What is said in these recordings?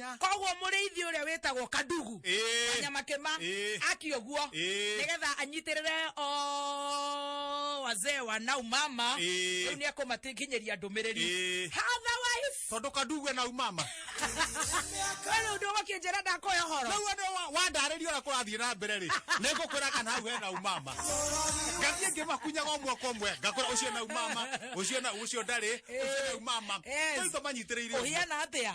Nya. koguo mũrĩithi ũrĩa wĩtagwo kandugu Ĩĩ. kanyama kĩma Ĩĩ. aki ũguo Ĩĩ. nĩgetha anyitĩrĩre o wazee wa nau mama Ĩĩ. rĩu nĩ ekũmakinyĩria ndũmĩrĩri Ĩĩ. otherwise tondå kandugu ena umama rĩu nĩ ũgũkĩnjĩra ndakoya ũhoro rä u wandarä ria å rä a kå rathiä na mbere rä nä ngå kwä ra kana hau hena umama ngathiä ngä makunyaga å mwaka å mwe ngakora å cio na umama å cio na å cio ndarä å cio na umama Yes. tå manyitä rä ire å guo. ũhiana atĩa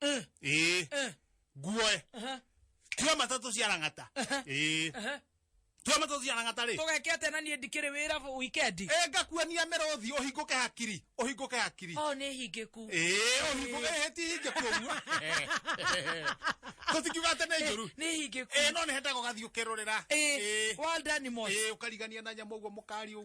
Eh, ĩĩ eh, guoe aha, tua matatũ cia rang'ata Aha. ĩĩ aha. tua matatũ cia rang'ata rĩ tũgeke atĩa na niĩ ndikĩrĩ wĩra bũ- wikendi ĩ ngakuonia mĩrũthi ũhingũke hakiri ũhingũke hakiri o nĩ hingĩku ĩĩ ũhingũke ĩĩ ti hingĩku ũguo tũtingiuga atĩ nĩ njũru nĩ hingĩku ĩĩ no nĩ hendaga ũgathiĩ ũkĩrũrĩra Ĩĩ, well done, Mosh. ĩĩ ũkarigania na nyamũ ũguo mũkari ũguo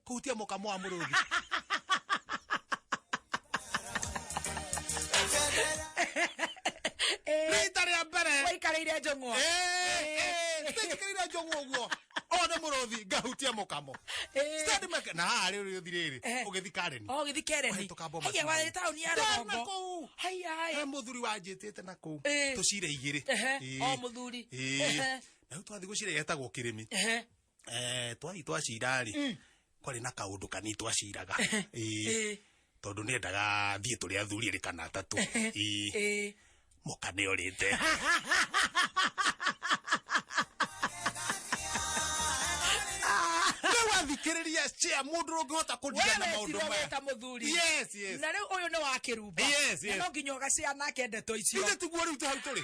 kuhutia mũkamo wa mũrũthi rita rĩa mbere waikarĩire njũng'wa tĩnjĩkĩrĩire njũng'wa ũguo o nĩ mũrũthi ngahutia mũkamo Eh. Stendi meke- na haha rĩu rĩũthi rĩrĩ Eh. ũgĩthi kareni o gĩthi kereni Wahĩtũka Bomas haiya Mall. warĩ taũni ya Ndana rũgongo kũu. he haiya mũthuri wanjĩtĩte na kũu Eh. tũcire igĩrĩ Ehe, Eh. o mũthuri. Eh. Ehe. na rĩu twathiĩ gũcire yetagwo kĩrĩmi Ehe. eh twari twacira ri Mm. kwari na kaundu kani twaciraga eh Eh, tondu ni endaga thie turi athuri ri kana atatu eh eh. muka ni orite riu athikiriria cia mundu rungihota kundigana Wewe maundu tiwe maya weta muthuri yes yes na riu uyu ni wa kirumba Yes, yes. Na no nginya ugacea nake ndeto icio ithe tiguo riu hau turi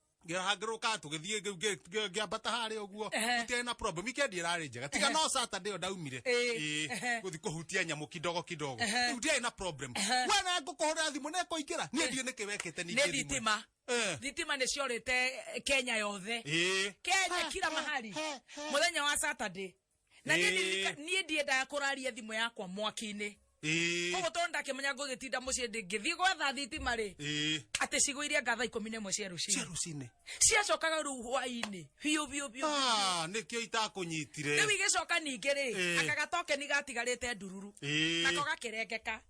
ngĩrahangĩrwo ka tũgĩthiĩ ngĩambata harĩa ũguo tũtiarĩ na problem weekend ĩrarĩ njega tiga no saturday ĩyo ndaumire gũthi kũhutia nyamũ kidogo kidogo rĩu ndiarĩ na problem we na ngũkũhũrĩra thimũ na ĩkũingĩra niĩ ndiĩ nĩkĩ wekĩte ningĩ thitima Eh. thitima nä ciorä te kenya yothe kenya kira mahari må thenya wa saturday na niĩ Ĩĩ. ndirika- niĩ ndiendaga kũraria thimũ yakwa mwaki-inĩ ĩĩ koguo tondũ ndakĩmenya ngũgĩtinda mũciĩ ndingĩthiĩ gwetha thitima rĩ ĩĩ atĩ cigũ iria ngatha ikũmi na ĩmwe cia cia rũcinĩ rũcinĩ ciacokaga rĩu hwainĩ biũ biũ biũ Ah, nĩkĩo itakũnyitire rĩu igĩcoka ningĩ rĩ Ĩĩ. akagatokeni gatigarĩte ndururu ĩĩ nako gakĩrengeka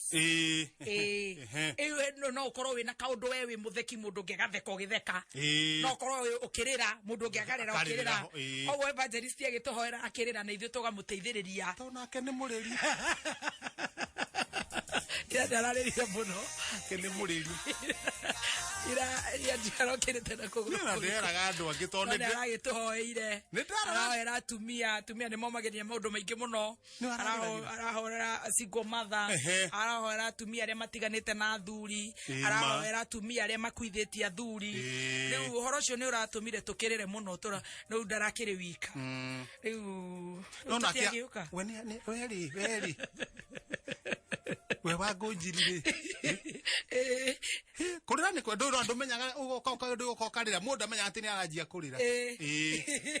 jokes Ĩĩ. Ĩĩ. Ehe. Ĩĩ, we no- no ũkorwo wĩna kaũndũ we wĩ mũtheki mũndũ ũngĩ agatheka ũgĩtheka Ĩĩ. no ũkorwo wĩ- ũkĩrĩra mũndũ ũngĩ akarĩra Akarĩra, ũkĩrĩra ĩĩ. koguo evangelist agĩtũhoera akĩrĩra na ithuĩ tũgamũteithĩrĩria to nake nĩ mũrĩri ira ndararĩrire mũno nake nĩ mũrĩri ira ira ndarokĩrĩte na kũgũrũ na nderaga andũ angĩ to nĩ ndĩ- aragĩtũhoeire Nĩ ndara- arahoera atumia atumia nĩ momagĩrĩria maũndũ maingĩ mũno Nĩwe arahũragĩra. arahorera single mother Ehe. arahorera atumia arĩa matiganĩte na athuri Ĩ, ma. arahorera atumia arĩa makuithĩtie athuri Ĩ. rĩu ũhoro ũcio nĩ ũratũmire tũkĩrĩre mũno tũra rĩu ndarakĩrĩ wika Mm. rĩu No nake tũtiagĩũka we nĩ- nĩ- we rĩ we rĩ we wa ngũnjiri rĩ Ĩ, kũrĩra nĩ kwendwo andũ menyaga ũgoka ũka- ũndũ ũgoka ũkarĩra mũndũ amenyaga atĩ nĩ aranjia kũrĩra Ĩ. Ĩ.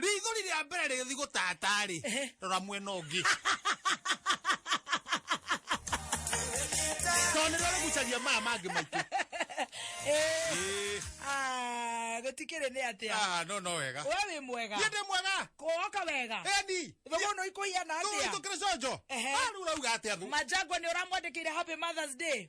rĩithori rĩa mbere rĩgĩthi gũtata-rĩ Ehe. rora mwena ũngĩ tondũ nĩrĩo rĩgucagia maya mangĩ maitũ Eh, Ĩĩ. ah, gũtikĩrĩ nĩ atĩa Ah, no no wega we wĩ mwega niĩ ndĩ mwega kwoka wega eni thogono ikũhiana atĩa tũgĩtũkĩrĩ conjo Ehe. rĩu rauga atĩa thũ majangwa nĩ ũramwandĩkĩire happy mothers day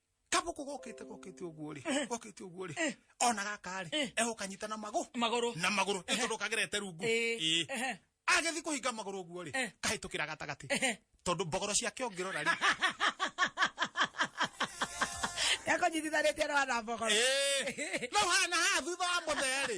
kabuku gokite gokite uguo ri gokite uguo ri ona gaka ri egukanyita na magu maguru na maguru itundu kagirete rungu Ĩĩ. Ĩĩ. agithi kuhinga maguru uguo ri kahitukira gatagati tondu mbogoro ciake ungirora ri ekonyitithanĩtie na wana mbogoro Ĩĩ. no hana ha thutha wa muthe ri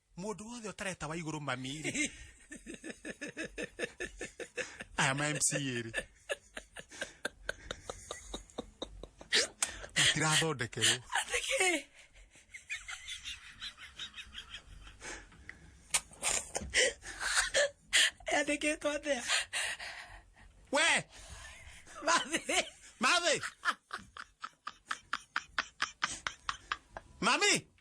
mundu wothe utareta wa iguru mami ri aya ma mca ri matirathondekerwo Atake. Yandĩkĩtwo atĩa? we Mathĩ. mathi mami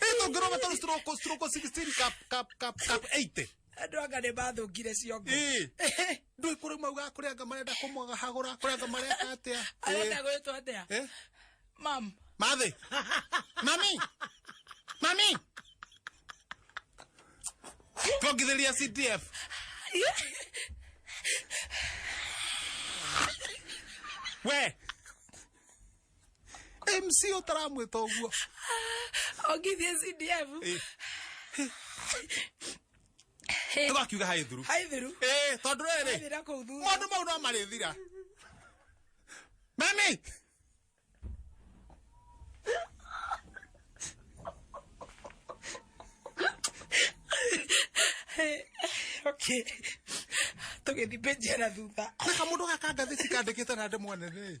Eto ngero batalo stroko stroko 16 cap cap cap cap 80. Andũ anga nĩ mathũkire ciongo. Eh. Ndũ ikũrĩ mau ga kũrĩa anga marenda kũmwaga hagũra kũrĩa anga mareka atĩa. Arenda gwĩtwo atĩa? Eh. Mam. Mathi. Mami. Mami. Twongithĩria CDF. We. mc ũtaramwĩta ũguo ongithie cdf Eh. Eh, tũgakiuga haĩ thuru haithiru Eh, tondũ rĩrĩ haithira kũu thutha maũndũ mau no marĩthira mami okay tũgĩthiĩ page ya na thutha na kamũndũ gaka ngathĩti kandĩkĩte na ndemwanene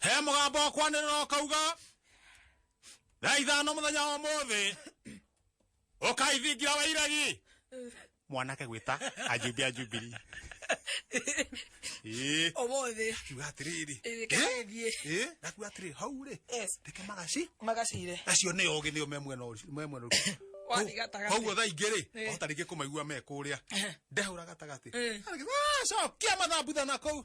he mugambo wa kwanirira ukauga thaa ithano muthenya wa muthi ukaithingira wa iregi mwanake gwita ajumbi ajumbiri Ĩĩ. Omothi. kiuga atiriri Ĩĩ, kĩgerie. nakuga atiriri hau ri Yes. ndeke magaci Magacire. acio nä ogä nä o me mwena å- me mwena å- Wathiĩ gatagatĩ. koguo thaa ingä rä Ĩĩ. ota rä ngä kå maigua me kå rä a ndehå ra gatagatĩ Ĩĩ. cokia mathambutha na kå u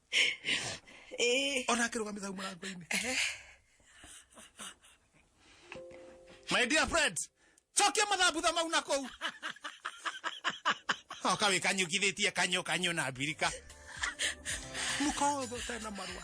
Eh. ona akĩrũgamĩte hau mũrango-inĩ my dear friend cokia mathambutha mau na kũu oka wĩ kanyũkithĩtie kanyũ kanyũ na mbirika mũkotho tena marũa